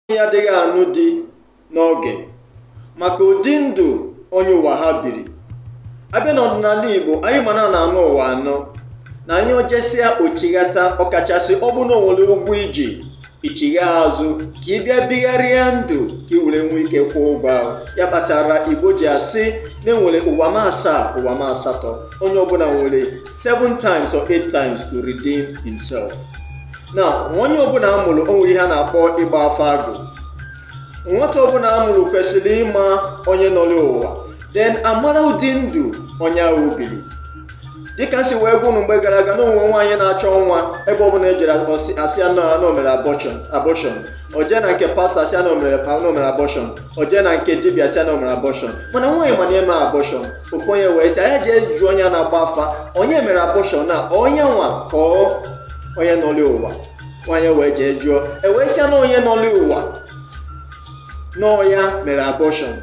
nwaanyị adịghị anụ di n'oge maka ụdị ndụ onye ụwa ha biri abịa n'ọdịnala Igbo anyị ma na na-anọ ụwa anọ na anyị o jesịa o chighata ọkachasị ọ bụ na o nwere ụgwọ i ji i chigha azụ ka ị bịa bigharịa ndụ ka ị were nwee ike kwụọ ụgwọ ahụ ya kpatara Igbo ji asị na e nwere ụwa m asaa ụwa m asatọ onye ọbụla nwere seven times or eight times to redeem himself. Now, onye ọbụla a mụrụ o nwere ihe a na-akpọ ịgba afa agụ. Nwata ọbụla a mụrụ kwesịrị ịma onye nọlụ ụwa, then a mara ụdị ndụ onye ahụ biri. Dịka m si wee gwa unu mgbe gara aga na o nwe nwaanyị na-achọ nwa ebe ọbụla e jere a sị ya na o mere abortion o jee na nke pastor a sị ya na o mere abortion o jee na nke dibịa a sị ya na o mere abortion mana nwaanyị ma na emeghị abortion ofu onye wee sị nya jee jụọ onye na-agba afa onye mere abortion a ọ ya nwa ka ọ onye nọlụ ụwa nwanyị wee jee jụọ e wee sị ya na onye nọlụ ụwa na ọ ya mere abortion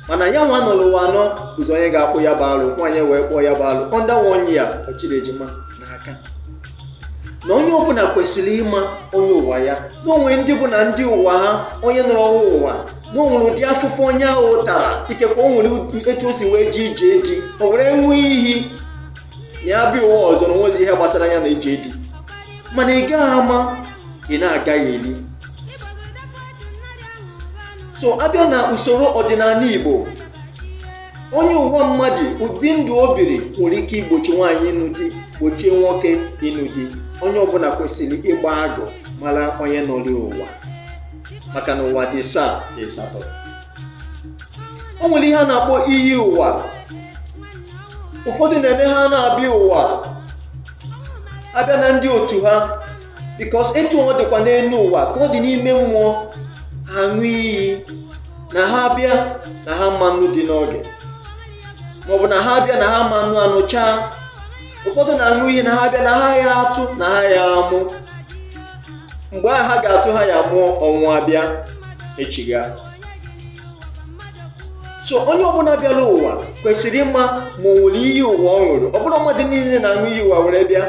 mana ya nwa nọrọ ụwa anọ bụzi onye ga-akpụ ya bụ alụ nwaanyị wee kpụọ ya bụ alụ under one year ọ chịrị ejima n'aka na onye ọbụla kwesịrị ịma onye ụwa ya na o nwe ndị bụ na ndị ụwa ha onye nọrọ ha ụwa na o nwere ụdị afụfụ onye ahụ tara ikekwe o nwere etu o si wee jee ije di o were ṅụọ iyi na ya bịa ụwa ọzọ na o nwezi ihe gbasara ya na ije di mana ị gaghị ama ị na-agaghị eli so a bịa na usoro ọdịnala igbo onye ụwa mmadụ ụdị ndụ o biri nwere ike igbochi nwaanyị ịnụ di gbochie nwoke ịnụ di onye ọbụla kwesịrị ịgba agụ mara onye nọlụ ụwa maka na ụwa dị ịsaa dị ịsatọ o nwere ihe a na-akpọ iyi ụwa ụfọdụ na-eme ha na-abịa ụwa abịa na ndị otu ha because etu ọ dịkwa n'elu ụwa ka ọ dị n'ime mmụọ ha ṅụọ iyi na ha abịa na ha ama anụ di n'oge maọbụ na ha abịa na ha ama anụ anụchaa ụfọdụ na-aṅụ iyi na ha abịa na ha ya atụ na ha ya amụ mgbe ahụ ha ga-atụ ha ya mụọ ọ nwụọ a bịa echigha so onye ọbụla bịara ụwa kwesịrị ịma ma o nwere iyi ụwa ọ ṅụrụ ọ bụrọ mmadụ niile na-aṅụ iyi ụwa were bịa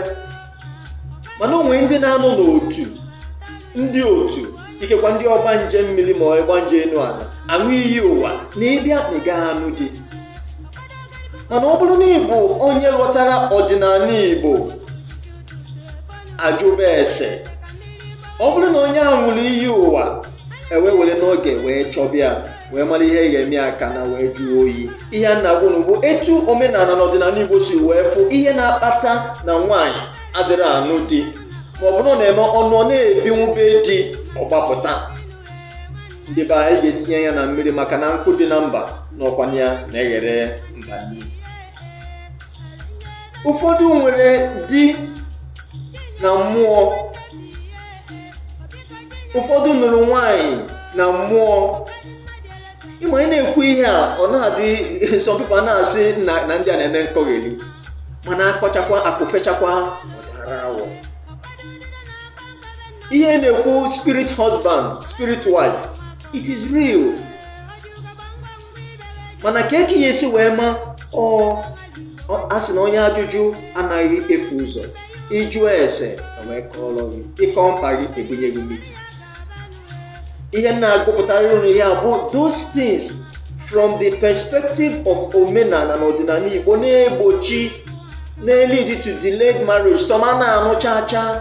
mana o nwere ndị na-anọ n'otu ndị otu ikekwa ndị ọgbanje mmiri ma ọgbanje enu ala aṅụ iyi ụwa na ị bịa na ị gaghị anụ di mana ọ bụrụ na ị bụ onye ghọtara ọdịnala igbo ajụba ese ọ bụrụ na onye ahụ ṅụrụ iyi ụwa e wee were n'oge wee chọba ya wee mara ihe ga-eme ya ka ana wee jụọ oyi ihe a na-agwa unu bụ etu omenala na ọdịnala igbo si wee fụ ihe na-akpata na nwaanyị adịrị anụ di ma ọ bụrụ na eme ọ nụọ ọ na-ebinwu be di ọ gbapụta ndị be anyị ga-etinye anya na mmiri maka na nkụ dị na mba n'ọkwa ya na-eghere mba nri ụfọdụ nwere di na mmụọ ụfọdụ nụrụ nwanyị na mmụọ ị ma ị na-ekwu ihe a ọ na-adị some people a na-asị na na ndị a na-eme nkọgheli mana akọchakwa akụ fechakwa ọ daara awọ ihe a na-ekwu spirit husband spirit wife it is real mana kee ka ị ya-esi wee ma o a sị na onye ajụjụ anaghị efu ụzọ ị jụọ ese wee kọọrọ gị ị kọọ mkpa gị ebunye gị miti ihe m na-agụpụtara unu a bụ those things from the perspective of omenala na ọdịnala Igbo na-egbochi na-elead to delayed marriage some a na-anụ chaa chaa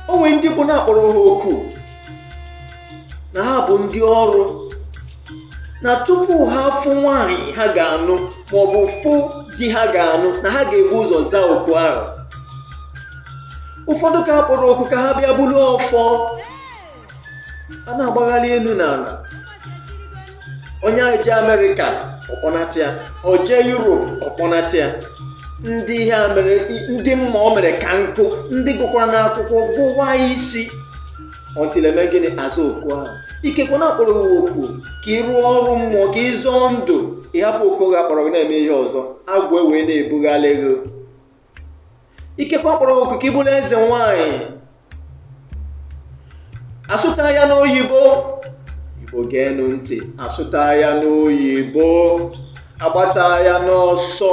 o nwe ndị bụ na a kpọrọ ha oku na ha bụ ndị ọrụ na tupu ha afụ nwaanyị ha ga-anụ maọbụ fụ di ha ga-anụ na ha ga-ebu ụzọ zaa oku ahụ ụfọdụ ka a kpọrọ oku ka ha bịa bulu ọfọ a na-agbagharị elu na ala onye ahụ jee America ọ kpọnata ya o jee Europe ọ kpọnata ya ndị ihe a mere ndị mma o mere ka nkụ ndị gụkwara n'akwụkwọ gụwa isi until e mee gịnị a zaa oku ahụ ikekwe na a kpọrọ gị oku ka ị rụọ ọrụ mmụọ ka ị zọọ ndụ ị hapụ oku gị a kpọrọ gị na-eme ihe ọzọ agwụ ewee na-ebugharị gị ikekwe a kpọrọ gị oku ka ị bụrụ eze nwanyị asụta ya n'oyibo igbo geenụ ntị asụta ya n'oyibo agbata ya n'ọsọ